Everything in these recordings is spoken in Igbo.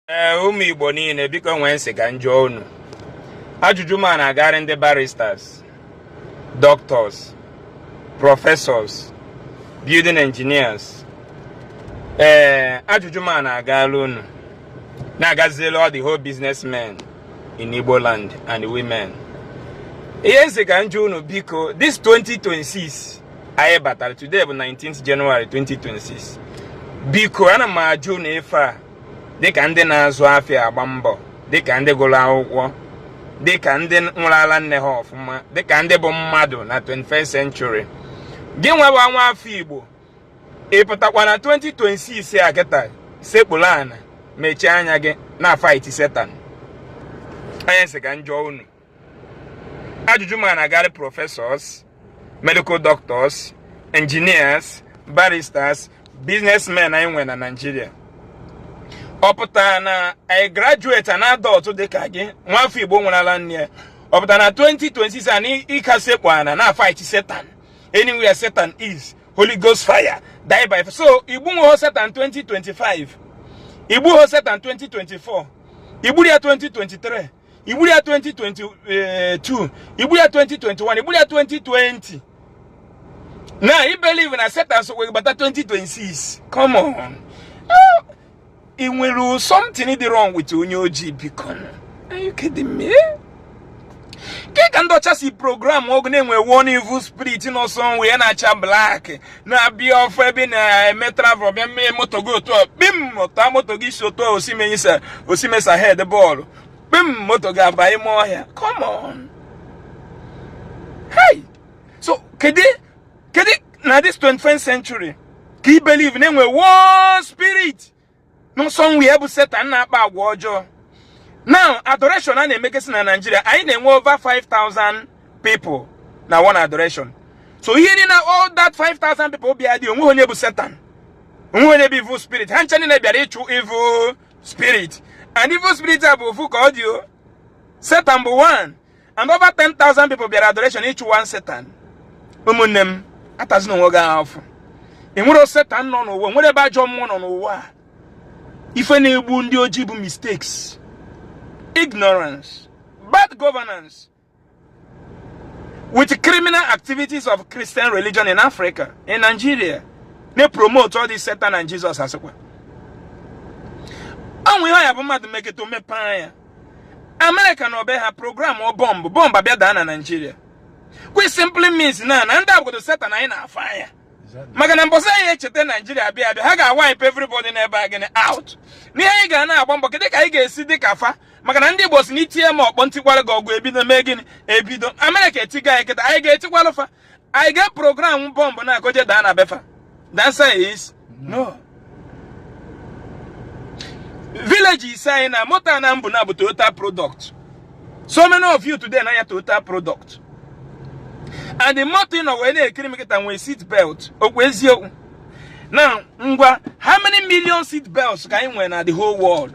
ee eh, ụmụ igbo niile biko o nwe ihe m sị ka m jụọ unu ajụjụ m a na-agara ndị barristers doctors professors building engineers ee eh, ajụjụ m a na-agara unu na-agazielu all the whole businessmen in igbo land and women ihe m sị ka m jụọ unu biko this 2026 anyị batara today bụ 19th January 2026 biko ana m ajụ unu ife a dịka ndị na-azụ afịa agba mbọ dịka ndị gụrụ akwụkwọ dịka ndị ṅụrụ ala nne ha ọfụma dịka ndị bụ mmadụ na 21st century gị nwewa nwa afọ igbo ị pụtakwa na 2026 a kịta sekpuru ana mechie anya gị na-afight setan o nwe ihe m sị ka m jụọ unu ajụjụ m a na-agara professors medical doctors engineers barristers businessmen anyị nwere na Naịjirịa ọ pụtara na a graduate an adult dịka gị nwafọ Igbo ṅụrụ ala nne ya ọ pụtara na 2026 a na ị ka sekpu ana na-afight Satan anywhere Satan is Holy Ghost fire die by so i gbunwuho Satan 2025 i gbuho Satan 2024 i gburo ya 2023 i gburo ya 2022 i gburo ya 2021 i gburo ya 2020 na i believe na Satan so wee bata 2026 come on ah, e nwere something dị wrong with onye ojii biko are you kidding me eh? ka ndị ọcha si programuo gị na e nwe one evil spirit nọ somewhere na-acha black na-abịa ọ fụ ebe ị na-eme travel bịa mee moto gị otu a kpim ọta moto gị si otu a osimesa head bọọlụ kpim moto gị aba ime ọhịa come on hey so kedu na this 21st century ka i believe na e nwe one spirit nọ somewhere bụ setan na-akpa agwa ọjọọ now adoration a na-emegasị na Naịjirịa anyị na-enwe over 5000 people na one adoration so ị hụrụ na all that 5000 people bịa dị o nweghị onye bụ setan o nweghị onye bụ evil spirit ha ncha niile bịara ịchụ evil spirit and evil spirit a bụ ofu ka ọ dị o setan bụ one and over 10,000 people bịara adoration ịchụ one setan ụmụnne m atazina onwe gị afụfụ e nwero setan nọ n'ụwa o nwero ebe ajọ mmụọ nọ n'ụwa ife na-egbu ndị ojii bụ mistakes ignorance bad governance with criminal activities of Christian religion in Africa in Nigeria na-promote all this Satan and Jesus a sịkwa o nwe ihe ọ ya-abụ mmadụ meketa o mepee anya amerịka nọ be ha programọ bọmbụ bọmbụ abịa daa na naijiria which simply means na na ndị a bụ ndị setan anyị na-afụ anya maka na mbọsị anyị echeta naijiria bịa abịa ha ga-awipe everybody n'ebe a gịnị out n'ihe anyị ga na-agba mbọ kedụ ka anyị ga-esi dị ka fa maka na ndị igbo si na i tie m ọkpọ m tikwara gị ọgụ ebido mee gịnị ebido amerịka etigo anyị kịta anyị ga-etikwalụ fa anyị ga program bọmbụ n'aka o je daa na be fa the answer is no village ise anyị na moto na mbụ na bụ total product so many of you today na-anya total product and the moto ị nọ wee na-ekiri m kịta nwee seat belt ọkwa eziokwu na ngwa how many million seat belts ka anyị nwere na the whole world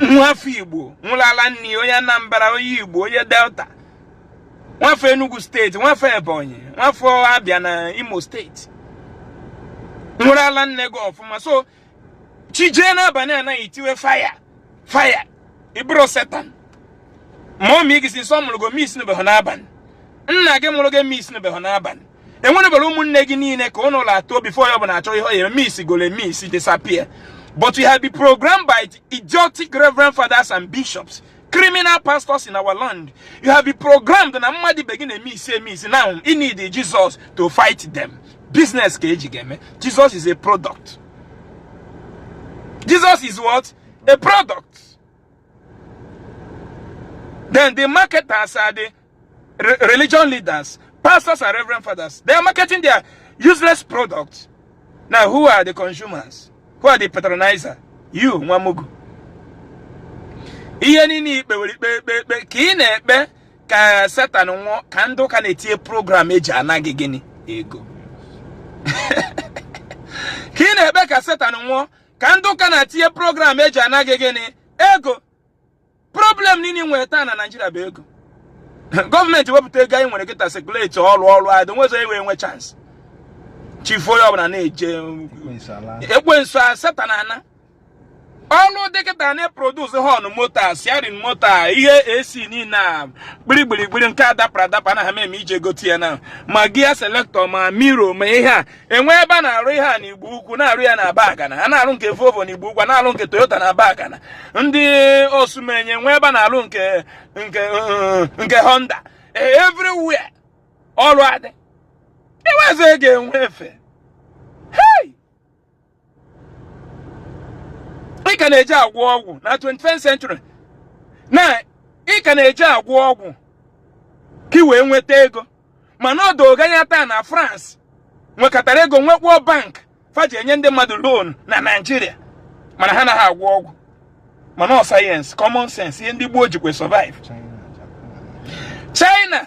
nwafọ igbo ṅụlụ ala nne onye anambra onye igbo onye delta nwafọ enugu steeti nwafọ ebonyi nwafọ abịa na imo steeti ṅụrụ ala nne gị ọfụma so chi jie n'abalị anaghị itiwe faya faya ịbụrụ setan mọmị gị si nsọ mụrụ gị miss n'ebe ahụ n'abalị nna gị mụrụ gị miss n'ebe ahụ n'abalị enwere bere ụmụnne gị niile ka ụnụ la atọ before ya bụ na-achọ ihe ọ ya miss gole miss disappear but you have been programmed by the idiotic reverend fathers and bishops criminal pastors in our land you have been programmed na mmadụ ibe gị na-emiss emiss now you need Jesus to fight them business ka eji gị eme Jesus is a product Jesus is what a product then the marketers are the re religion leaders, pastors and reverend fathers. They are marketing their useless products. Now, who are the consumers? Who are the patronizer? You, nwa mugu. Ihe niile ikpe were ikpe ikpe ikpe ka ị na-ekpe ka Satan nwụọ ka ndị ụka na-etinye program eji ana gị gịnị ego ka ị na-ekpe ka Satan nwụọ ka ndị ụka na-etinye program eji ana gị gịnị ego problem niile nwere taa na naijiria bụ ego gọọmenti wepụta ego anyị nwere kịta sekuleti ọrụ ọrụ adị nwezọ enwe enwe chansị chifu onye ọbụla na-eje ekwensu satan anaa ọlụ dị kịta na-eprodus họn moto siarin moto ihe ac niile a gbirigbirigbiri nke adapara adapa na ha eme i je gote ya na ma gia selektọ ma miro ma ihe a enwe ebe a na-arụ ihe a na igbo ukwu na-arụ ya na abagana a na-arụ nke volvo na igbo ukwu na-arụ nke toyota na abagana ndị osumenyi enwee ebe a na-arụ nke nke nke honda e, everywhere ọrụ adị enwezi ego enwe efe ị ka na-eji agwọ ọgwụ na 21st century na ị ka na-eji agwọ ọgwụ ka ị wee nweta ego mana o doo gị anya taa na France nwekatara ego nwekwa bank fa ji enye ndị mmadụ loan na Naịjirịa mana ha naghị agwọ ọgwụ mana ọ sayensị common sense ihe ndị gboo jikwa survive China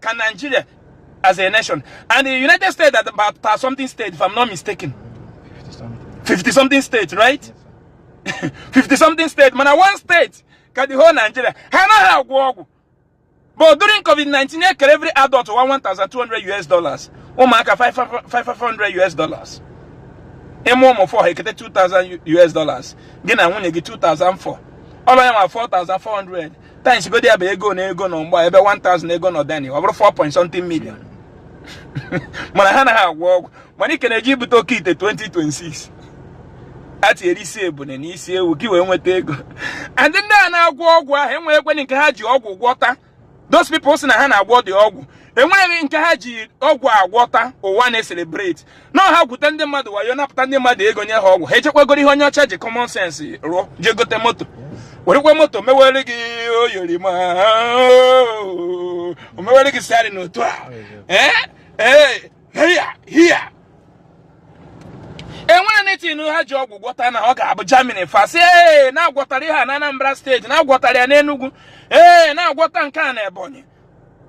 ka Nigeria as a nation and the United States that about 50 something state if I'm not mistaken 50 something state right 50 something state mana one state ka the whole Nigeria ha anaghị agwọ ọgwụ but during COVID-19 e kere every adult 1200 US dollars ụmụaka 500 US dollars ị mụọ ụmụ 4 ha ekete 2000 US dollars gị na nwunye gị 2400 ọlụ ya nwa 4400 times godi ya bụ ego na ego nọ mgba ebe 1000 ego nọ dani ọ bụrụ 4 point something million mana ha anaghị agwọ ọgwụ mana ị ka na-eje ibute okeite 2026 atinyere isi ebune na isi ewu ka i wee nweta ego and ndị a na-agwọ ọgwụ ahụ enweghịkweni nke ha ji ọgwụ gwọta those people sị na ha na-agwọdị ọgwụ enweghị nke ha ji ọgwụ agwọta ụwa na-eselebrate na ha gwute ndị mmadụ wayo napụta ndị mmadụ ego nye ha ọgwụ ha ejekwa goro ihe onye ọcha ji common sense rụọ jee gote moto werekwa moto mewere gị oyorima o mewere gị sari n'otu a ee ee hiya hiya e nwere anything ha ji ọgwụ gwọta na ọ ga-abụ Germany first ee na-agwọtara ya na Anambra State na-agwọtara ya n'Enugu ee na-agwọta nke a na Ebonyi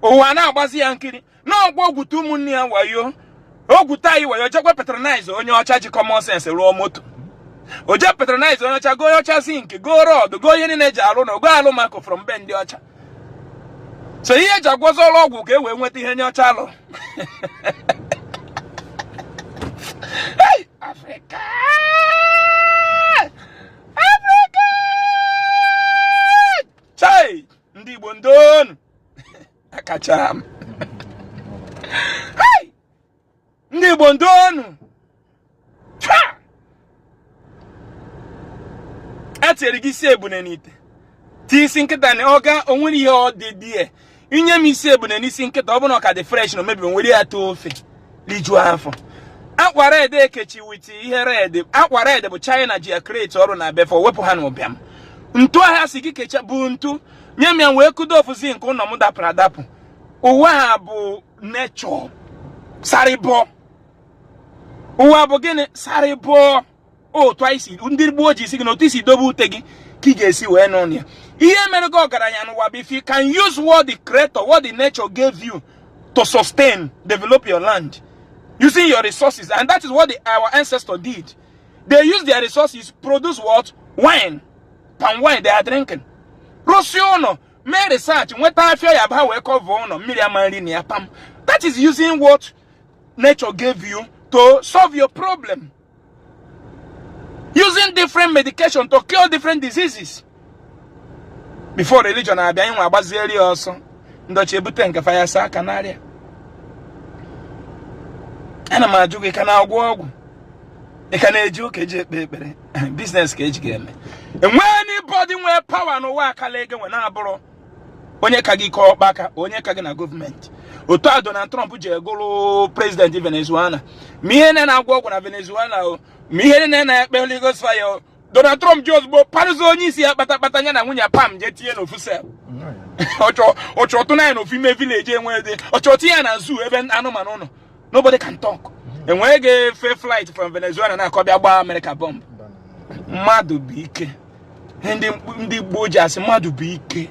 ụwa na-agbazi ya nkiri na ọkwa o gwute ụmụnne ya wayo o gwute anyị wayo jekwa patronize onye ọcha ji common sense rụọ moto o jee patronize onye ọcha goo onye ọcha zinc goo rod goo ihe niile e ji arụ ụnọ goo alumaco from be ndị ọcha so ihe e ji agwọzi ọrụ ọgwụ ka e wee nweta ihe onye ọcha alụ Africa! Africa! Chai! Ndị Igbo ndo nụ! akacha m ndị Igbo ndo nụ e tinyere gị isi ebune n'ite tii isi nkịta na ọga o nwere ihe ọ dị dị ya i nye m isi ebune n'isi nkịta ọ bụrụ na ọ ka dị fresh na o mebirọ m were ya too ofe rijuo afọ akwa red e kechi with ihe red akwa red bụ China ji ya create ọrụ na be fa wepụ ha na ụbịam ntu ahụ a sị gị kecha bụ ntu nye m ya wee kụdo ofu zinc ụlọ m dapụrụ adapụ ụwa a bụ nature survival ụwa bụ gịnị survival otu anyị si ndị gboo ji asị gị na otu i si dobe ute gị ka ị ga-esi wee nọ ya ihe mere gị ọgaranya n'ụwa bụ if you can use what the creator what the nature gave you to sustain develop your land using your resources and that is what the, our ancestor did they use their resources produce what wine palm wine they are drinking rụsie ụlọ mee research nweta afịa ya ba wee kọva ụlọ mmiri ama nri na ya pam that is using what nature gave you to solve your problem using different medication to cure different diseases before religion abịa anyị nwa agbazieri ya ọsọ ndị ọcha ebute nke fa ya saa aka n'area ana m ajụ gị ị ka na-agwọ ọgwụ ị ka na-eje ụka eje ekpe ekpere biznes ka e ji gị eme enwe anybody nwee pawa n'ụwa akala ego nwe na-abụrụ onye ka gị kọọ ọkpa aka onye ka gị na gọọmenti otu a Donald Trump ji egụrụ prezidenti Venezuela ma ihe na na-agwọ ọgwụ na Venezuela o ma ihe na na-ekpe Holy Ghost fire o Donald Trump ji ozugbo parụzi onye isi ya kpatakpata ya na nwunye pam jee tinye n'ofu sel ọ chọọ ọ tụna ya n'ofu ime vileji enwe dị ọ chọọ tinye ya na zoo ebe anụmanụ nọ nobody can talk mm-hmm. enweghị ga-efe flight from Venezuela na-akọ bịa gbaa Amerịka bọmbụ mmadụ bụ ike ndị gboo ji asị mmadụ bụ ike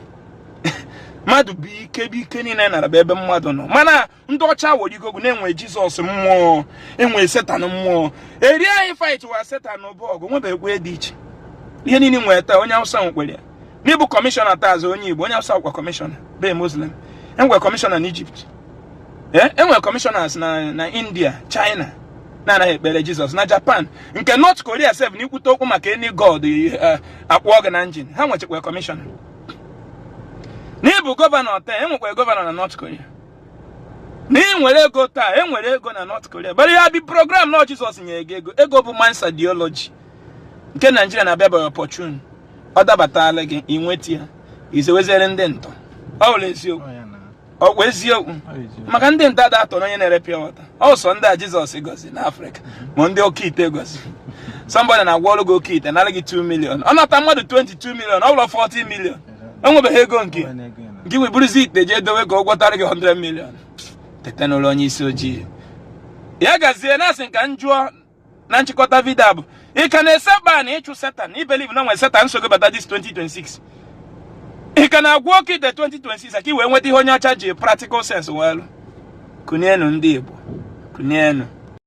mmadụ bụ ike bụ ike niile nara bụ ebe mmadụ nọ mana ndị ọcha ghọrọ gị aghụghọ na e nwe jizọs mmụọ enwe setan mmụọ eri anyị fight wa setan bụ ọgụ nwebeghịkwa dị iche ihe niile i nwe taa onye awụsa nwekwere ya na ị bụ kọmishọna taa as onye Igbo onye Hausa kwa kọmishọna be Muslim enwere kọmishọna na Egypt enwere eh, kọmishọnas na India China na-anaghị ekpere Jizọs na Japan nke North Korea sef na ikwute okwu maka any god eh, akpụọ gị na njin ha nwechekwa kọmishọna na ị bụ gọvanọ taa enwekwara gọvanọ na North Korea na ị nwere ego taa e nwere ego na North Korea but you've been programmed na Jizọs nyere gị ego ego bụ man's ideology nke Naijiria na-abịa by opportune ọ dabatala gị i nweta ya i zeweziere ndị ntọ ọ bụrọ eziokwu ọkwa eziokwu maka ndị ntọ ada atọrọ onye na-ere pure water ọ sọ ndị a jizọs gọzi na afrịka ma ndị oke ite gọzi sọmbọdị na-agwọrọ gị oke ite nara gị 2 milion ọ nata mmadụ 20 2 milion ọ bụrụ 40 milion o nwebeghị ego nke gị wee buruzi ite jee dowe ka ọ gwọtara gị 100 milion teta n'ụla onye isi ojii ya gazie na-asị ka m jụọ na nchịkọta vidio a bụ ị ka na-esekpu ana ịchụ setan ị believe na e nwere setan nsogbu bata this 2026 ị ka na-agwọ oke ite 2026 ka ị wee nweta ihe onye ọcha ji practical sense wee lụ kunienu ndị igbo kunienu